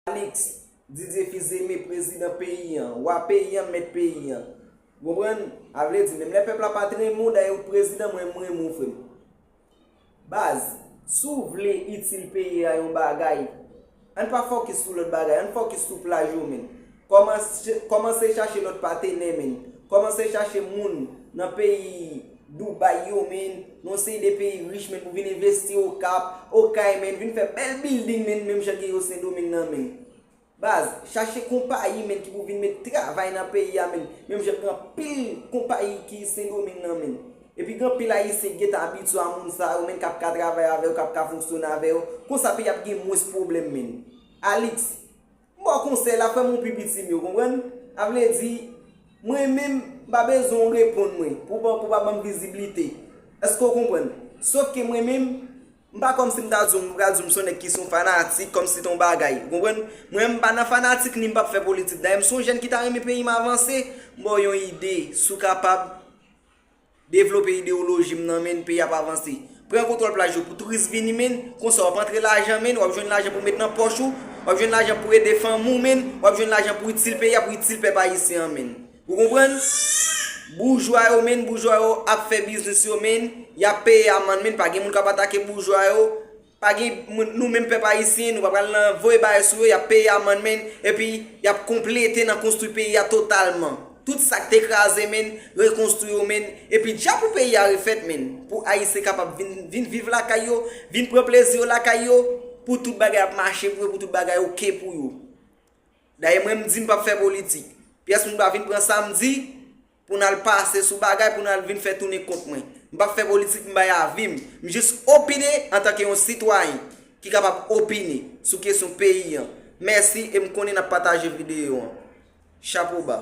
Alix Didier Fils-Aimé prezidan peyi an, wa peyi an, mèt peyi an. Ou konprann? A vle di, menm lè pèp la pat renmen w, dayè ou t prezidan, mwen m renmen w frè m. Baz, si w vle itil peyi a yon bagay, ann pa fòkis sou lòt bagay, ann fòkis sou plaj yo menm. Kòmanse chache lòt patenè menn. Kòmanse chache moun nan peyi Dubai yo menn, nan yon seri de peyi rich menn pou vin envesti Okap, Okay menn, vin fè bèl bilding menn menm jan gen yo Sendomeng nan menn. Baz, chache konpayi menn ki pou vin met travay nan peyi a menn, menm jan gen anpil konpayi ki Sendomeng nan menn. Epi gen anpil Ayisyen ki gen tan abitye a moun sa yo menn k ap ka travay avè yo, k ap ka fonksyone avè yo. Konsa peyi a ap gen mwens pwoblèm menn. Alix. M ba w konsèy la, fè m ou pi piti m yo, konprann? A vle di, mwen menm, m pa bezwen ou reponn mwen, pou pa pou pa ban m viziblite. Èske ou konprann? Sof ke mwen menm, m pa kòmsi m ta di w, m pral di w m se yon nèg ki se yon fanatik, kòmsi te yon bagay. Ou konprann? Mwen menm m pa nan fanatik ni m pap fè politik. Dayè m se yon jèn ki ta renmen peyi m avanse. M ba w yon ide, si w kapab. Devlope ideyoloji m nan menn peyi ap avanse. Pran kontwòl plaj yo pou touris vini menn, konsa wap antre lajan menn, wap jwenn lajan pou met nan pòch ou, wap jwenn lajan pou ede fanmi w menn, wap jwenn lajan pou itil peyi a, pou itil pèp ayisyen an menn. Ou konprann? Boujwa yo menn, boujwa yo ap fè biznis yo menn, yap peye amann menn, pa gen moun kap atake boujwa yo, Pa gen moun nou menm pèp ayisyen nou pa pral nan voye bagay sou yo yap peye amann menn epi yap konplete nan konstwi peyi a totalman tout sak te kraze menn rekonstwi yo menn epi dja pou peyi a refèt menn pou ayisyen kapab vin vin viv lakay yo vin pran plezi yo lakay yo pou tout bagay ap mache pou yo pou tout bagay ok pou yo dayè mwen m di m pap fè politik pyès moun pa vin pran sam di Pou n al pase sou bagay, pou n al vin fè tounen kont mwen. M pap fè politik, m bay avi m. M jis opine antanke yon sitwayen ki kapab opine sou kesyon peyi an. Mèsi e m konnen n ap pataje videyo an. Chapo ba.